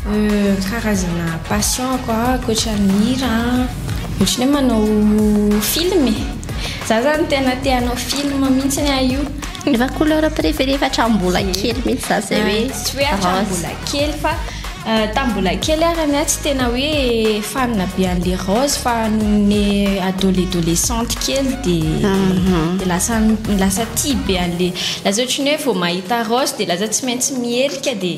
Karazana passion ko a ankoatra ny hira a ohatran'ny hoe manao film e! Za zany tena te hanao film mihitsy aho io. Efa couleur préféré efa hatramin'ny mbola kely mihitsy za zay hoe rose. Tsy hoe hatramin'ny mbola kely fa tamin'ny mbola kely ary ny ahy tsy tena hoe fan be an'le rose fa nony adolescente kely de lasa lasa tia be an'le lasa ohatran'ny hoe vao mahita rose de lasa tsy maintsy miherika de.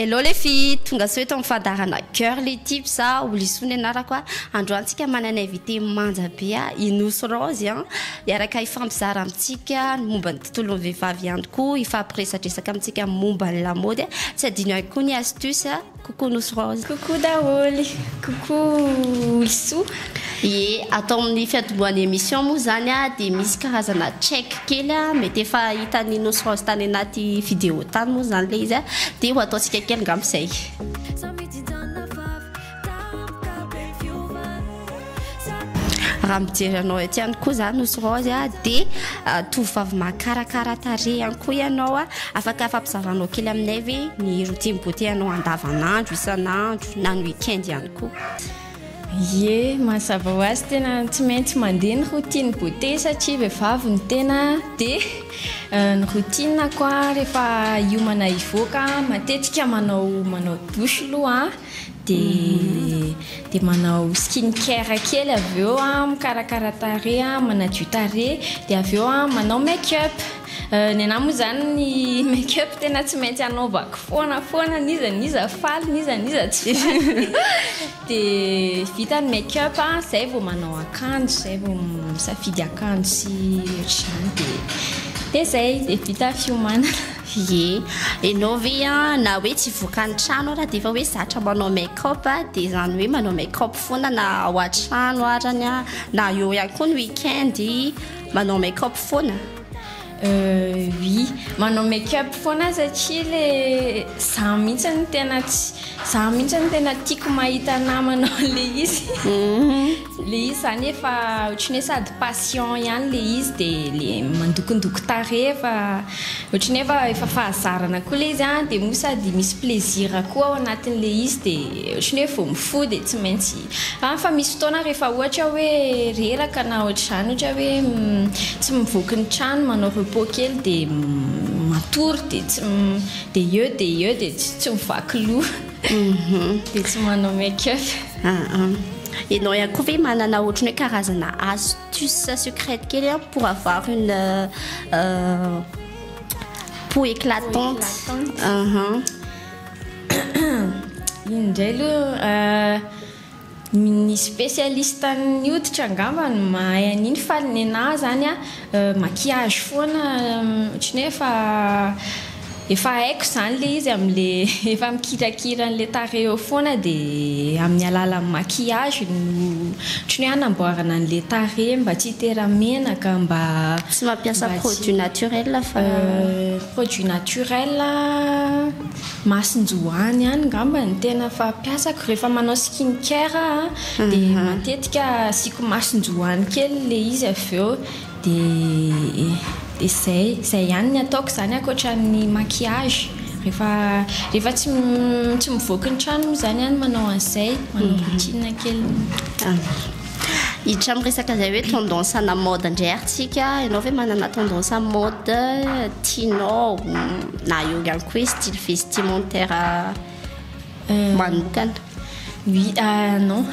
Hello le fille, tonga sao eto amin'ny fandaharana Girly Tips a, Olisoa ny anarako a. Androany tsika manana invité manja be a, i Nosy Raozy a. Hiaraka hifampizara amintsika ny momba ny tontolon'ny vehivavy ihany koa, hifampiresadresaka amintsika momba ny lamaody a. Tsy adino ihany koa ny astuce a. Coucou Nosy Rose. Coucou daholo. Coucou Olisoa. Ie, ato amin'ny fiantombohan'ny émission moa izany a, dia misy karazana check kely a, mety efa hitan'i Nosy Rose tany anaty vidéo tany moa izany ilay izy a, dia ho ataontsika kely angamba izay. Raha mijery anao etsy ihany koa za Nosy Raozy a dia tovovavy mahakarakara tarehy ihany koa ianao a, afaka afampizaranao kely aminay ve ny routine beauté anao andavanandro, isan'andro na ny week-end ihany koa? Ye, mazava ho azy tena tsy maintsy mandeha ny routine beauté satria vehivavy ny tena dia ny routine-ko a rehefa hiomana hivoaka matetika manao manao douche aloha Dia dia manao skin care kely avy eo a, mikarakara tarehy a, manadio tarehy, dia avy eo a manao make up. Ny anahy moa izany ny make up tena tsy maintsy anaovako foana foana n'iza n'iza faly n'iza n'iza tsy faly. Dia vita ny make up a, izay vao manao akanjo, izay vao misafidy akanjo sy ohatr'izany dia dia izay, dia vita ny fiomanana. Ye, enao ve an na hoe tsy vokany trano ara de efa hoe zatra manao make up a, de zany hoe manao make up foana na ao atrano arany a na eo ihany koa ny week-end manao make up foana? Oui, manao make up foana satria le za mihitsy no tena tsy, za mihitsy no tena tiako mahita anah manao an'le izy. Le izy zany efa ohatry ny hoe sady patient ihany le izy de le mandokondoko tarehy fa ohatry ny hoe efa fahazarana koa le izy an de moa sady misy plaisir koa ao anatin'le izy de ohatry ny hoe vao mifoha de tsy maintsy an fa misy fotoana rehefa ohatra hoe reraka na ohatr'izany ohatra hoe tsy mivoaky ny trano manao repos kely de matory de tsy de eo de eo de tsy mivaky loha. Mhm. Dia tsy manao make up. Ah, Ianao ihany koa ve manana ohatran'ny hoe karazana astuce secrète kely an pour avoir une euh, euh, peau éclatante. Aham. Iny indray aloha euh, Ny spécialiste ny hoditra angamba no mahay an'iny fa ny anah zany a maquillage foana ohatry ny hoe efa efa haiko zany le izy amle efa mikirakira anle tarehy eo foana de amin'ny alalan'ny maquillage no ohatry ny hoe hanamboarana anle tarehy mba tsy hitera menaka mba tsy mampiasa produit naturel fa produit naturel. Masinjoany ihany ngamba ny tena fampiasako rehefa manao skin care aho a dia matetika asiako masinjoany kely ilay izy avy eo dia dia izay, izay ihany ny ataoko izany ankoatran'ny maquillage rehefa rehefa tsy tsy mivoaka ny trano moa izany aho no manao an'izay manao routine kely. Hiditra amin'ny resaka izay hoe tendance ana mode indray ary tsika ianao ve manana tendance amin'ny mode tianao na eo ihany koa hoe style vestimentaire euh, manokana oui ah non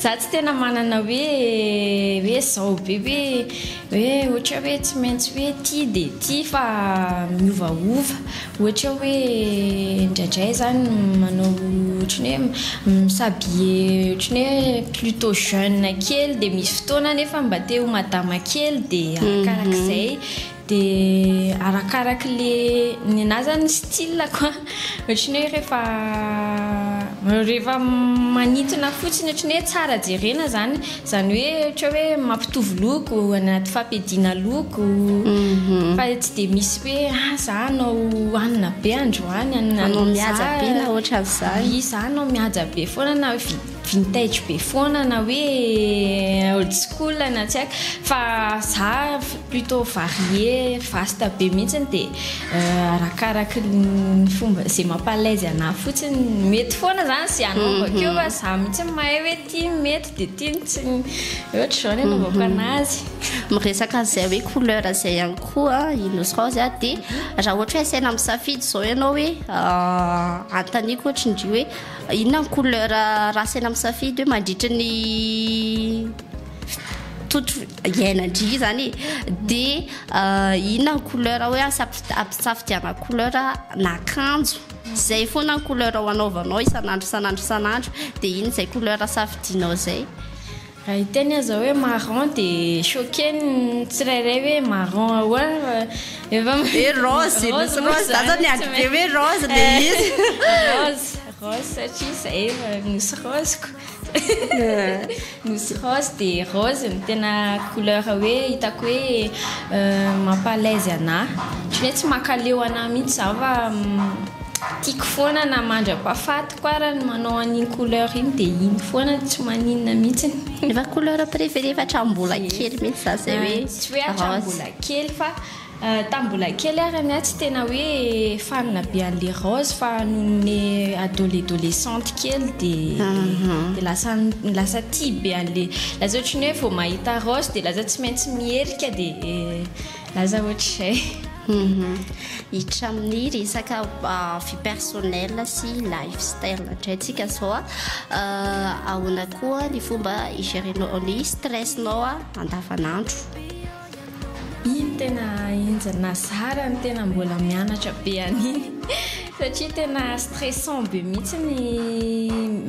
za tsy tena manana hoe hoe zao be hoe hoe ohatra hoe tsy maintsy hoe tia de tia fa miovaova Ohatra hoe indraindray zany manao ohatran'ny hoe mi-s'habiller ohatran'ny hoe plutôt jeune kely dia misy fotoana nefa mba te ho madama kely dia arakarak'izay dia arakaraky le ny anahy zany ny style-ko an ohatran'ny hoe rehefa rehefa manintona fotsiny ohatran'ny hoe tsara jerena zany Izany hoe ohatra hoe mampitovy loko anaty fampiadiana loko fa tsy dia misy hoe ah za hanao hanina be androany hanina hanao mihaja be na ohatran'izany oui za hanao mihaja be foana na vintage be foana na hoe old school na tsy haiko fa za plutôt varié vaste be mihitsy dia arakaraky ny fomba izay mampa-alaise anah fotsiny mety foana izany izay hanaovako io fa za mihitsy no mahay hoe ity mety Dia tiany tsy ny ohatra izao ny anaovako mhm. anazy. Miresaka an'izay hoe couleur izay ihany koa i Nosy Rose a dia raha ohatra hoe asaina misafidy izao ianao hoe euh, antaniko ohatra indry hoe inona ny couleur raha asaina misafidy hoe mandritra ny totro iainandry zany de euh, inona ny couleur hoe ampisafidiana couleur na akanjo Zay foana ny couleur ho anaovanao isan'andro isan'andro isan'andro dia iny izay couleur safidianao zay. Raha hiteny aza hoe marron dia choqué ny tsirairay hoe marron ahoana fa efa mahita hoe rose e, misy rose za zao niady be hoe rose le izy. Rose, rose satria zay efa nosy rose-ko. Nosy rose dia rose no tena couleur hoe hitako hoe euh, mampa alaise anah. Tsy hoe tsy makaleo anah mihitsy zaho fa mm, tiako foana na mandra-pahafatiko ara ny manao an'iny couleur iny dia iny foana tsy maninona mihitsy. Efa couleur préféré fa hatramin'ny mbola kely mihitsy za zay hoe ah, Tsy hoe hatramin'ny rose. mbola kely fa Tamin'ny mbola kely ary anie tsy tena hoe fanina be an'le raozy fa nony adolescente kely de de lasa lasa tia be an'le lasa ohatry ny hoe vao mahita raozy de lasa tsy maintsy miherika de lasa ohatr'izay. Hiditra amin'ny resaka vie personnelle sy life style indray tsika zao a, ahoana koa ny fomba i-gérer-nao ny stress-nao andavan'andro? Iny tena enjana zara ny tena mbola mianatra be an'iny satria tena stressant be mihitsy ny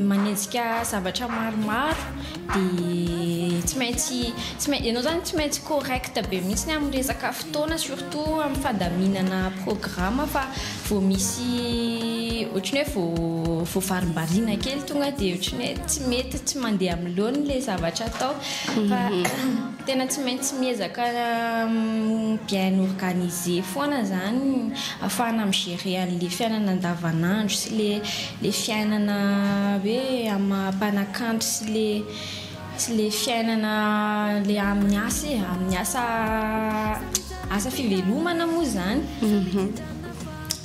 manenjika zavatra maromaro dia tsy maintsy tsy maintsy ianao izany tsy maintsy correct be mihitsy amin'ny resaka fotoana surtout amin'ny fandaminana programa fa vao misy ohatran'ny hoe vao vao varimbariana kely tonga dia ohatran'ny hoe tsy mety tsy mandeha amin'ny laoniny ilay zavatra atao fa Tena tsy maintsy miezaka bien organisé foana zany afahana mi gérer anle fiainana andavanandro sy le le fiainana hoe amah mpanakanto sy le sy le fiainana le aminy asa e aminy asa asa fivelomana moa zany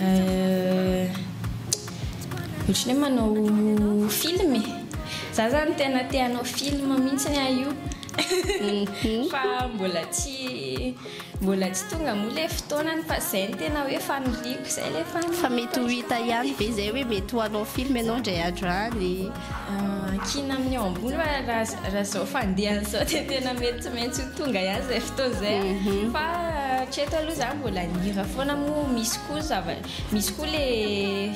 Euh. Otrany hoe manao film e. Za zany tena te hanao film mintsiny aho io. Fa mbola tsy mbola tsy tonga moa le fotoanany fa zay no tena hoe faniriako zay le faniriako. Fa mety ho hita ihany ve zay hoe mety ho hanao film enao ndray andro any. Ankina amin'ny eo ambony fa raha raha zao fandehany zao dia tena mety tsy maintsy ho tonga ihany izay fotoana izay mhm. fa hatreto aloha zany mbola nihira foana moa misy koa zava misy koa le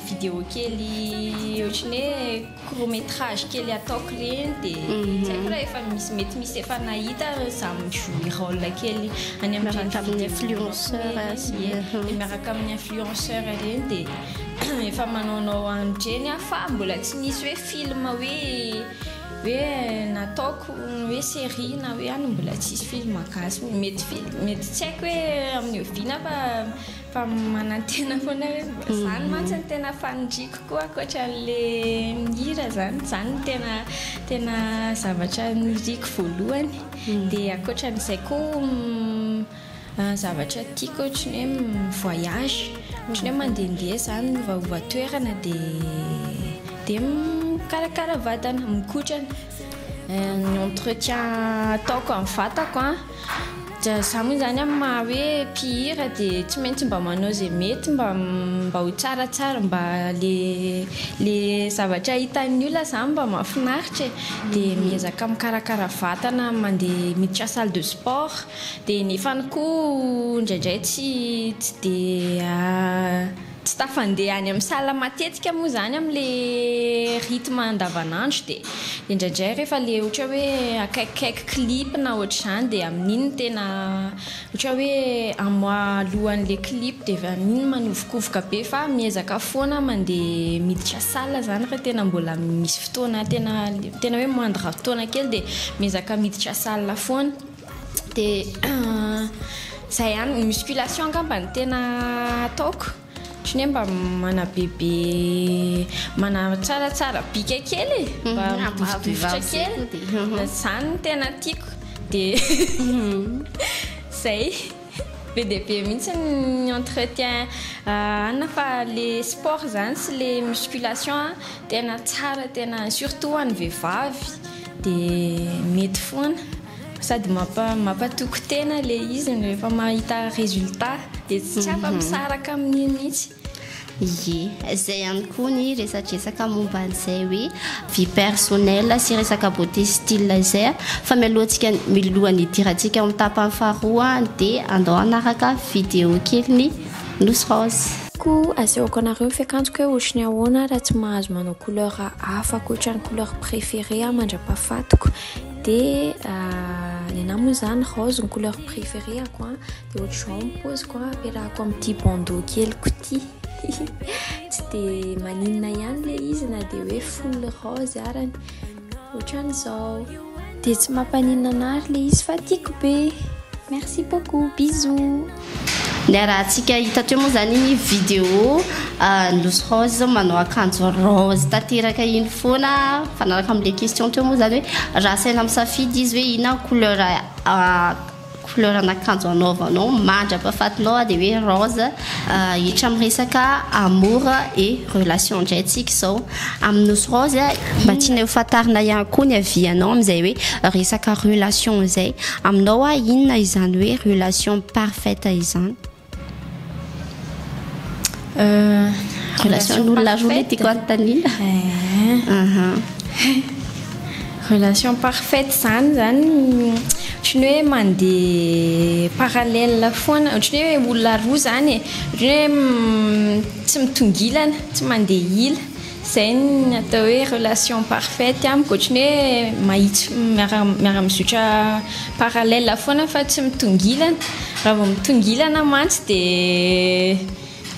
vidéo kely ohatran'ny hoe court métrage kely ataoko ireny dia mhm. tsy haiko raha efa misy mety misy efa nahita za mijouer rôle kely any amin'ireny tamin'ny influenceur miaraka amin'ny influenceur ireny dia Efa manaonao any dreny aho fa mbola tsy nisy hoe film hoe hoe nataoko hoe série na hoe any mbola tsisy film gasy hoe mety ve mety tsy haiko hoe amin'ny oviana fa fa manantena foana hoe mba zany mhm. mantsy ny tena fanindriko koa ankoatra an'le mihira zany zany ny tena tena zavatra niriko voalohany mhm. dia ankoatra an'izay koa mm, Zavatra tiako ohatry ny hoe mi-voyage, ohatry ny hoe mandehandeha izany, miovaova toerana dia dia mikarakara vatana, mikotrana. Ny entretien ataoko amin'ny vatako an, dia izaho moa izany amin'ny maha hoe mpihira dia tsy maintsy mba manao izay mety mba mba ho tsaratsara, mba ilay ilay zavatra hitan'ny olona izany mba mahafinaritra e. Dia miezaka mikarakara vatana, mandeha miditra salle de sport, Dia nefany koa indraindray tsy tsy dia tsy tafandeha any amin'ny salle matetika moa izany amin'ilay rythme andavanandro dia indraindray rehefa ilay ohatra hoe akaikikaiky clip na ohatr'izany dia amin'iny no tena ohatra hoe un mois alohan'ilay clip dia avy eo amin'iny manovokovoka be fa miezaka foana mandeha miditra salle izany raha tena mbola misy fotoana tena tena hoe moindre fotoana kely dia miezaka miditra salle foana. Dia izay ihany, ny musculation angamba no tena ataoko, ohatran'ny hoe mba manabebe, manatsaratsara bika kely e, mba midifotra kely, izany no tena tiako. Dia izay. Be dia be mihitsy ny entretien hanina fa le sport zany sy le musculation an tena tsara tena surtout ho an'ny vehivavy de mety foana sady mampa- mampatoky tena le izy rehefa mahita resultat de tsy afa-misaraka amin'iny mihitsy. Ie, izay ihany koa ny resadresaka momba an'izay hoe vie personnelle sy resaka beauté style izay a! Fa mialohantsika milohan'ny hidirantsika ao amin'ny tapany faharoa dia andao hanaraka vidéo kelin'i Nosy Rose. Koa asehoko anareo ny fiakanjoko hoe ohatry ny ahoana raha tsy mahazo manao couleur hafa ankoatra ny couleur préférée mandra-pahafatiko dia ny anah moa izany rose no couleur préférée-ko a! Dia ohatr'izao ny poziko an, ampiarahako amin'ity bandeau keliko ity. Tsy dia maninona ihany le izy na dia hoe full rose arany. Ohatran'izao. Dia tsy mampaninona anary le izy fa tiako be. Merci beaucoup, bisous. Niarahantsika hita teo moa zany iny vidéo ah, Nosy Rose manao akanjo rose tanteraka iny foana mifanaraka amin'ilay question teo moa zany hoe raha asaina misafidy izy hoe inona ny couleur ah, couleur an'akanjo anaovanao mandra-pahafatinao aho dia hoe rose hiditra amin'ny resaka amour et relation indray tsika izao amin'ny nosy rose mba tianay ho fantarina ihany koa ny avianao amin'izay hoe resaka relation izay aminao aho inona izany hoe relation parfaite izany Relation olona roa le tiako anontaniana. Relation parfaite izany izany ohatran'ny hoe mandeha parallèle foana, ohatran'ny hoe olona roa izany e, ohatran'ny hoe tsy mitongilana, tsy mandeha hila. Izay no atao hoe relation parfaite amiko, ohatran'ny hoe mahitsy miara-mizotra parallèle foana fa tsy mitongilana, raha vao mitongilana mantsy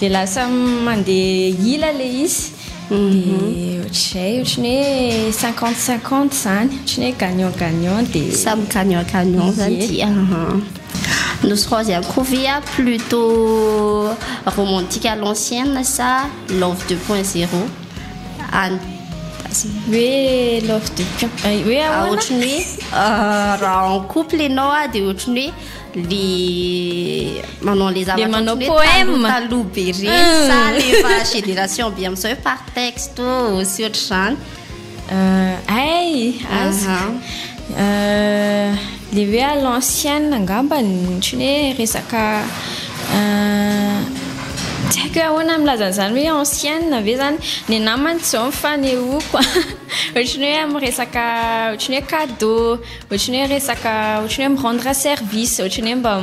dia lasa mandeha ila ilay izy, dia ohatran'izay, ohatran'ny hoe cinquante cinquante izany, ohatran'ny hoe gagnant gagnant dia. Samy gagnant gagnant izany ity an. Nosy Raozy Ankovia, plutôt romantique à l'ancienne sa. Love deux point zero any hoe love deux point eh, hoe ahoana? Ah, ohatry ny hoe ah, raha en couple ianao ah, dia ohatry ny hoe le manao le zavatra manao poème taloha be reny sa le efa génération be amin'izao hoe par texte sy ohatr'izany Hay! Aska! Ilay hoe à l'ancienne angamba ny ohatran'ny hoe resaka tsy haiko hoe ahoana ny milazana an'izany hoe ancienne ve izany? Ny anà mantsy izao ny fanehoako ohatran'ny hoe amin'ny resaka ohatran'ny hoe cadeaux, ohatran'ny hoe resaka ohatran'ny hoe mi rendre service, ohatran'ny hoe mba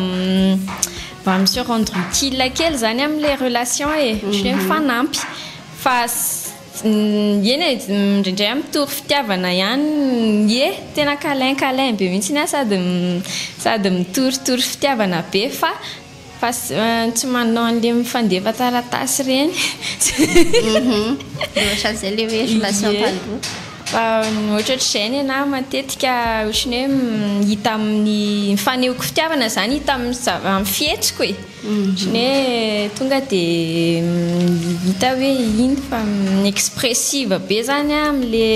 mba mi se rendre utile kely izany amin'ilay relation e, ohatran'ny hoe mifanampy fa. Eny e, indraindray aho mitory fitiavana ihany ye, tena câlin câlin be mihitsiny aho sady sady mitoritory fitiavana be fa fa tsy manao an'le mifandefa taratasy ireny ohatran'izay le hoe relation taloha. Fa ohatrohatr'izay ny anah matetika ohatran'ny hoe hita amin'ny fanehoako fitiavana zany hita amin'ny amin'ny fihetsiko e. Ny hoe tonga dia hita hoe iny fa expressive be zany amin'ny le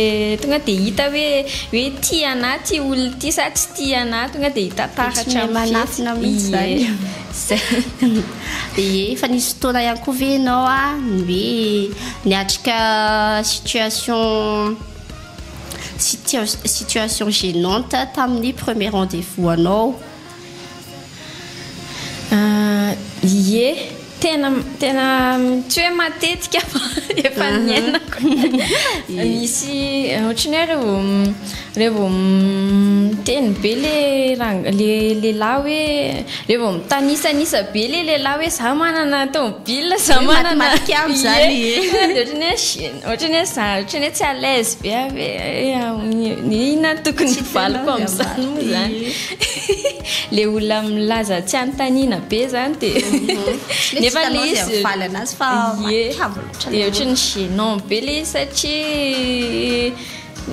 tonga dia hita hoe hoe tia anah ity olona ity sa tsy tia anah tonga dia hita taratra amin'ny fihetsiny. Tsy mahay manafina mihitsy zany. Ie. Zay. Ie, efa nisy fotoana ihany koa ve ianao ny hoe niatrika situation situation gênante tamin'ny premier rendez-vous anao? Ie, tena tena tsy hoe matetika fa efa niainako. Misy ohatry ny hoe reo vao reo vao miteny be le rang- le lehilahy hoe reo vao mitanisanisa be le lehilahy hoe za manana tômôbila za manana. Matimatika amiko zany e. Tonga de ohatry ny hoe gene ohatry ny hoe za ohatry ny hoe tsy à l'aise be aho hoe inona no tokony hovaliko am'zany moa zany. Le olona milaza tsy anontaniana be zany de mhm. nefa le izy mifaly anazy fa matavy loatra de ohatry ny gênant be le izy satria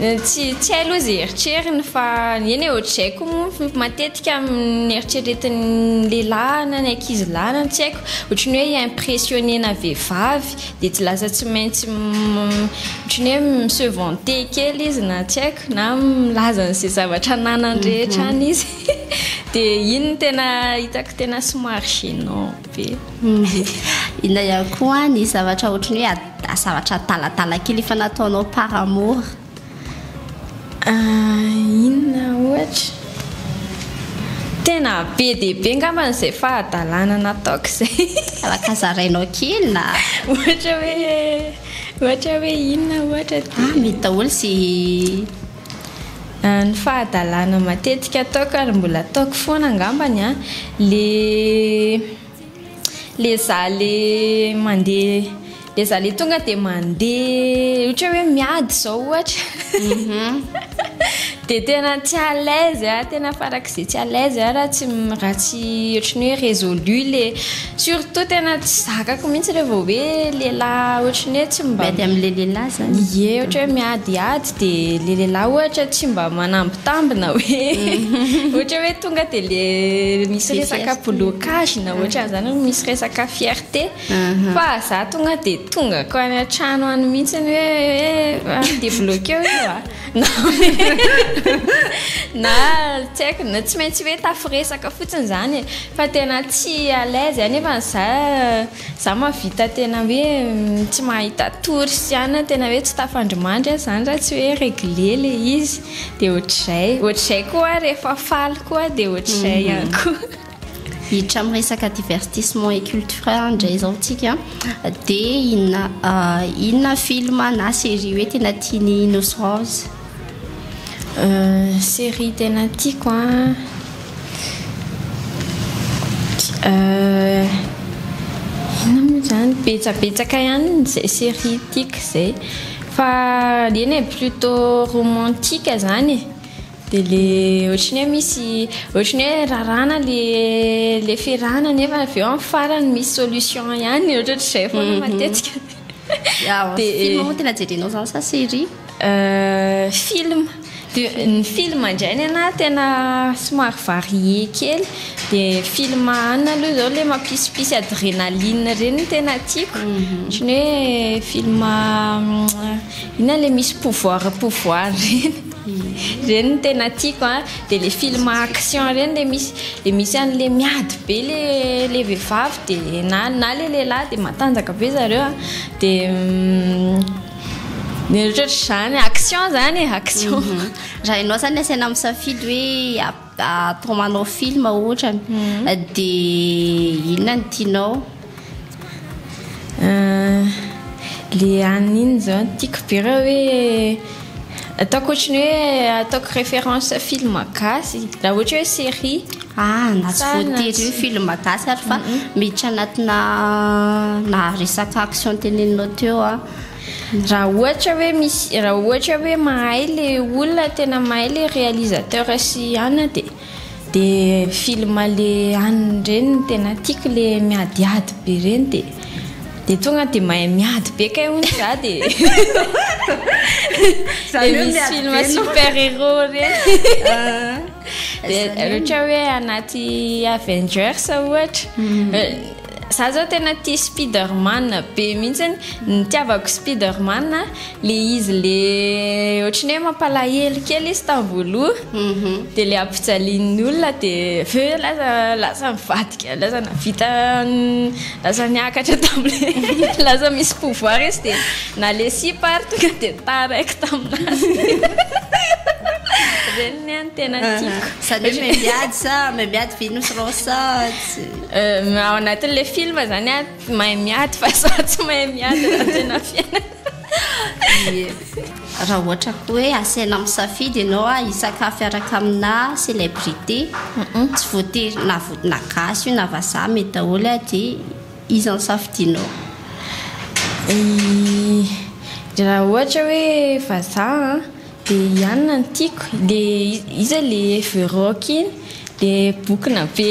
eh, tsy tsy hay aloha izay eritreriny fa eny e ohatr'izay koa moa matetika amin'ny eritreretin'ny lehilahy na ny ankizy lahy na tsy haiko ohatry ny hoe impressionner-na vehivavy dia tsy lasa tsy maintsy ohatran'ny hoe mi-se vanter kely izy na tsy haiko na milaza an'izay zavatra ananany rehetra mhm. any izy dia iny no tena hitako tena somary gênant be mhm. inona ihany koa ny zavatra ohatran'ny hoe zavatra talatala kely efa nataonao par amour Inona ohatra? Tena be dia be angambany izay fahadalana nataoko izay. Ka zarainao kely na. Ohatra hoe, ohatra hoe inona ohatra dia. Ah, mety daholo izay. Ny fahadalana matetika ataoko ary mbola ataoko foana angambany an, ilay. Le za le mandeha le za le tonga de mandeha ohatra hoe miady zao ohatra mhm. de tena tsy à l'aise a tena farak'izay tsy à l'aise a raha tsy raha tsy ohatry ny hoe résolu le surtout tena tsy zakako mihitsy le vao hoe lehilahy ohatry ny hoe tsy mba miady am'le lehilahy zany ie ohatra hoe miadiady Dia ilay lehilahy ohatra tsy mba manambitambina hoe ohatra hoe tonga dia ilay misy resaka blocage na ohatran'izany hoe misy resaka fierté fa za tonga dia tonga ko any an-trano any mihitsy ny hoe ah, dia bloqué io a na na tsy haiko na tsy maintsy hoe tafiresaka fotsiny izany e. fa tena tsy à l'aise anefa za Za mahavita tena hoe tsy mahita tory sy anona tena hoe tsy tafandrimandry aho zany raha tsy hoe regle le izy de ohatr'izay ohatr'izay koa aho rehefa faly koa de ohatr'izay mhm. ihany koa hiditra amin'ny resaka divertissement et culturel indray izao tsika dia inona ah, inona film na série hoe tena tian'i Innocence Série tena tiako an, inona moa izany, betsabetsaka ihany izay série tiako izay fa eny e, plutôt romantique izany e, dia ilay ohatry ny hoe misy ohatry ny hoe raràna ilay fiarahana nefa avy eo amin'ny farany misy solution ihany, ohatrohatr'izay foana matetika. Dia. Film moa tena jerenao izany sa série? Euh film, dia ny film indray ny anah tena somary varié kely dia film an aloha izao ilay mampisimpisy adrenaline ireny no tena tiako ohatran'ny hoe film inona ilay misy pouvoir pouvoir ireny ireny no tena tiako an dia ilay film action ireny ilay misy ilay misy an'ilay miady be ilay ilay vehivavy dia na na ilay lehilahy dia matanjaka be zareo an dia Ny eritreritra izany, action izany e, action. Mhm. Raha ianao izany asaina misafidy hoe atao manao film ohatrany, mhm. dia inona ny tianao? Euh, le anina iny izao no tiako be raha hoe ataoko ohatry ny hoe ataoko référence film gasy, raha ohatra hoe série. Ah na tsy voatery hoe film gasy ary fa miditra anatina na resaka action teneninao teo a. Raha ohatra hoe misy raha ohatra hoe mahay le olona tena mahay le réalisateur sy an a de de film le an reny no tena tiako le miadiady be reny de de tonga de mahay miady be kay hono za de le misy film super héros reny. rehetra hoe anaty avengers ohatra mhm. eh, za zao tena ti spiderman be mihitsiny nitiavako spiderman le izy le ohatra ny hoe mampalahelo kely izy tavoaloha mhm. de le ampijalian'ny olona de ve laza laza mivadika laza navita laza niakatra tamle laza misy pouvoir izy de na le sipa ary tonga de taraiky taminazy Ny ny tena tiako. Zany hoe memiady sa memiady Venus Rosa tsy. Euh, ao anatin'le film zany a mahay miady fa za tsy mahay miady raha tena fiainana. Raha ohatra koa hoe asaina misafidy ianao a hisakafy araka aminà célébrité, tsy voatery na vo- na gasy io na vazaha mety daholo a de iza no safidianao? Raha ohatra hoe vazaha an. Dia ianona no tiako dia iza le ever rock iny le bokona be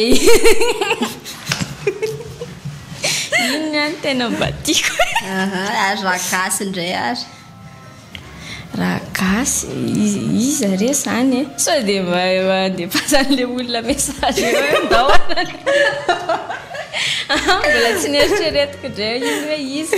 iny ny any tena mba tiako aha ary raha gasy indray ary raha gasy iza re zany e sao dia mba andefasany le olona message eo ndao aho mbola tsy neritreretiko indray iny hoe iza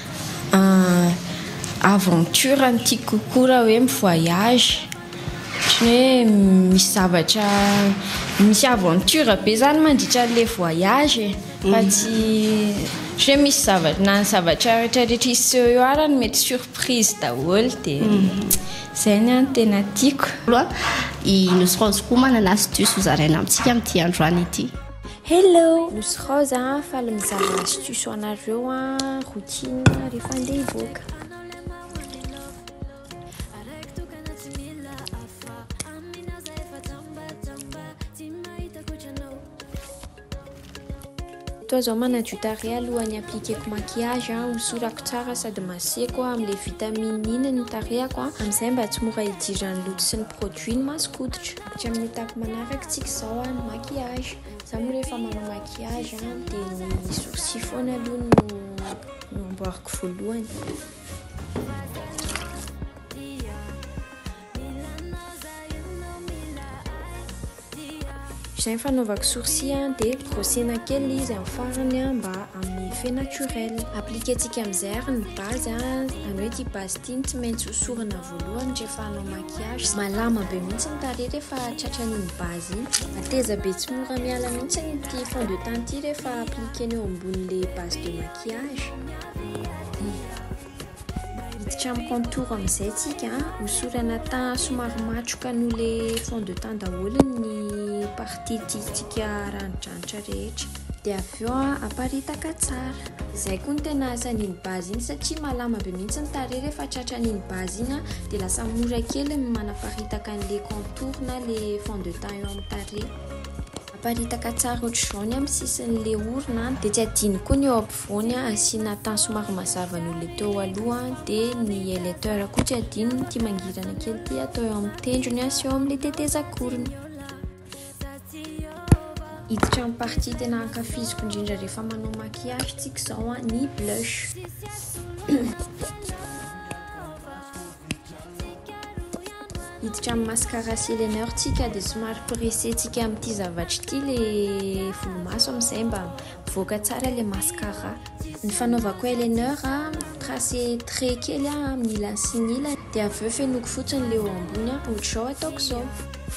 Aventure no tiako kokoa raha hoe mi-voyage, ohatran'ny hoe misy zavatra, misy aventure be zany mandritra an'ilay voyage e, fa tsy, ohatran'ny hoe misy zava- na ny zavatra rehetra rehetra hiseho eo ara no mety surprise daholo dia zay ny ahy no tena tiako. I Nosy Raozy koa manana astuce ho zaraina amintsika amin'ity androany ity. Hello, nosy Rose a, faly mizaha astuce anareo a, routine rehefa andeha hivoaka. Toa zao manadio tarehy alohan'ny appliqueko maquillage a, hosorako tsara sady maseko a, amin'ilay vitamine iny ny tarehako a, amin'izay mba tsy mora idiran'ny loto sy ny produit ny masoko hoditra. Hatramin'ny etapy manaraka tsika izao a, ny maquillage. Za moa rehefa manao maquillage a, dia ny sourcils foana aloha no no amboariko voalohany. Izay ny fanaovako sourcils a, dia brossena kely izy amin'ny farany a, mba hanome effet naturel. Appliquer-tsika amin'izay ary ny base a, izany hoe ity base ity no tsy maintsy hosorana avokoa. voalohany rehefa hanao maquillage, malama be mihitsy ny tarehy rehefa tratran'iny base iny, mateza be tsy mora miala mihitsy ity fond de teint ity rehefa appliquer-na eo ambonin'ilay base de maquillage, hiditra amin'ny contour amin'izay tsika, hosorana teint somary matroka noho ilay fond de teint daholo ny partie tiantsika haranidranitra rehetra. Dia avy eo aparitaka tsara. Izay koa no tena asan'iny base iny satria malama be mihitsy ny tarehy rehefa tratran'iny base iny an, dia lasa mora kely ny manaparitaka an'ilay contour na ilay fond de teint eo amin'ny tarehy. Aparitaka tsara ohatr'izao ny amin'ny sisin'ilay orona an, dia tsy adino koa ny eo ampovoany an, asiana teint somary mazava noho ilay teo aloha an, dia ny highlighter koa tsy adino ity mangirana kely ity atao eo amin'ny tendrony an sy eo amin'ilay tetezan-korony. Hiditra amin'ny partie tena ankafiziko indrindra rehefa manao maquillage tsika izao an, ny blush. Hiditra amin'ny mascara sy eyeliner tsika dia somary pressé tsika amin'ity zavatra ity ilay volomaso amin'izay mba mivoaka tsara ilay mascara. Ny fanaovako eyeliner tracé trait kely amin'ny ilany sy ny ilany dia avy eo fenoiko fotsiny ilay eo ambony an, ohatr'izao ataoko izao.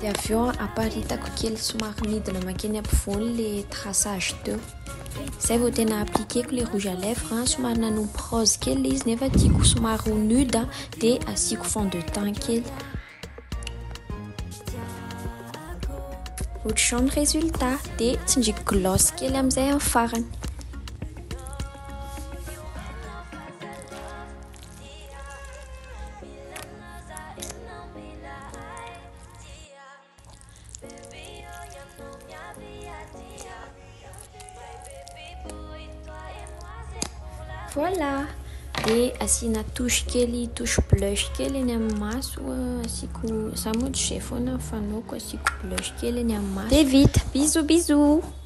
Dia avy eo aparitako kely somary midina makeny ampovoany le traçage teo. Zay vao tena appliqueko le rouge à lèvres, hein. somary nanompo rose kely le izy nefa tiako somary ho nude de asiako fond de teint kely. Ohatr'izao ny résultat de tsindriako gloss kely amin'izay amin'ny farany. Voilà! Dia asiana touche kely, touche blush kely eny amin'ny maso asiako, za moa tsy izay foana fanaoko asiako blush kely eny amin'ny maso. Dia vita, bisous bisous!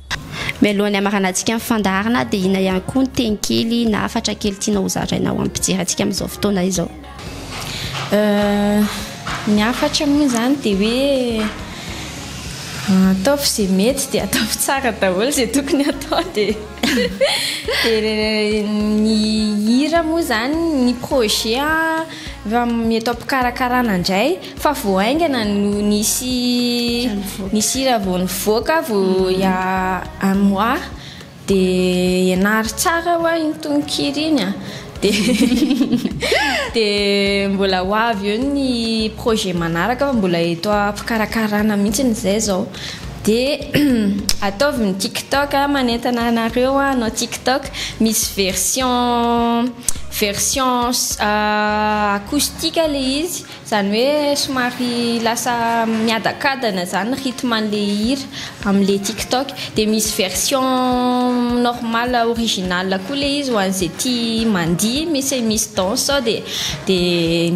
Mialohan'ny hamaranantsika ny fandaharana dia inona ihany koa ny teny kely na hafatra kely tianao ho zaraina ho an'ny mpijery antsika amin'izao fotoana izao? Ny hafatra moa izany dia hoe ataovy izay mety dia ataovy tsara daholo izay tokony hatao dia dia ny hira moa izany ny projet efa mety ampikarakarana indray. Fa vao haingana no nisy nisy hira vao nivoaka vao il y a un mois dia ianaro tsara ho'a iny tononkira iny a. Dia dia mbola ho avy eo ny projet manaraka fa mbola eto am-pikarakarana mihitsiny izay izao. Dia ataovy ny tiktok a, manentana anareo aho hanao tiktok, misy version version acoustique ilay izy Izany hoe somary lasa miadakadana izany rythme an'ilay hira amin'ilay tiktok dia misy version normal original koa ilay izy ho an'izay tia mandihy misy misy danse sao dia dia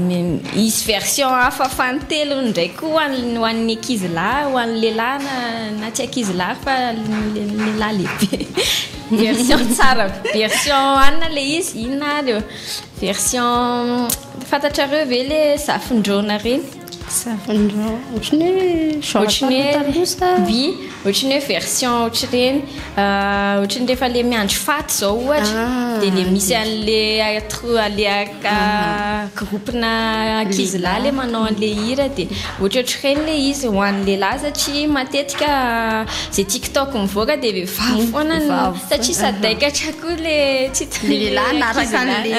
hisy version hafa fanintelony indray koa ho an'ny ankizy lahy ho an'ny lehilahy na na tsy ankizy lahy fa lehilahy lehibe version tsara version anona ilay izy inona ary eo version Fantatrareo ve le zafin-drona reny? Zafin-drona ohatran'ny hoe ohatran'ny hoe bi, ohatran'ny hoe version ohatr'ireny ah, ohatran'ny rehefa le miandry faty zao ohatra ah. dia le misy an'le atro le aka ah. groupena ankizy lahy le manao an'le hira dia ohatraohatr'ireny le izy ho an'ny lehilahy satria matetika ze TikTok mivoaka dia vehivavy hmm, foana satria sadaikatra koa le tsy le lehilahy anaraka an'le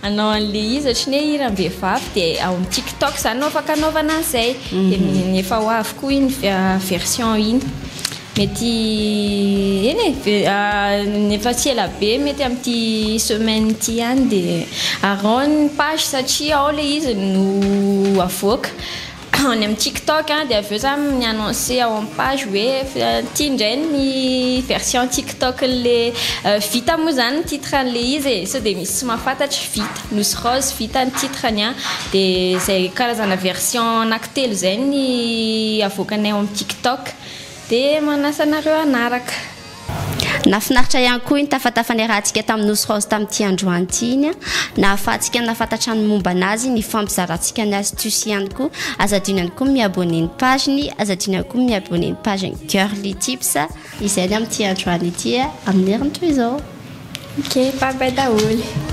Anao anle izy otriny hoe hiran vehivavy de ao am tik tok zany no afaka anaovana anzay de efa ho avy koa iny version iny mety eny e efa tsy ela be mety am ty semaine ty ihany de araho ny page satria ao le izy no avoaka any amin'ny tiktok dia avy eo za mi annoncer ao amin'ny page hoe ity indray ny version tiktok an'le vita moa zany ny titre an'le izy e sao dia misy tsy mahafantatra vita nosy rose vita ny titre ny an dia izay karazana version anaky telo izay ny avoakanay ao amin'ny tiktok dia manasa anareo hanaraka Nahafinaritra ihany koa iny tafatafa niarahantsika tamin'i Nosy Raozy tamin'ity androany ity iny an! Nahafahantsika nahafantatra ny mombana azy, nifampizarantsika ny astuces ihany koa. Aza adino ihany koa ny mi-abonner ny page-ny, aza adino ihany koa ny mi-abonner ny page-n'i Girly Tips. Izay ny amin'ity androany ity e! Amin'ny heriny toy izao. Ok, bye bye daholo.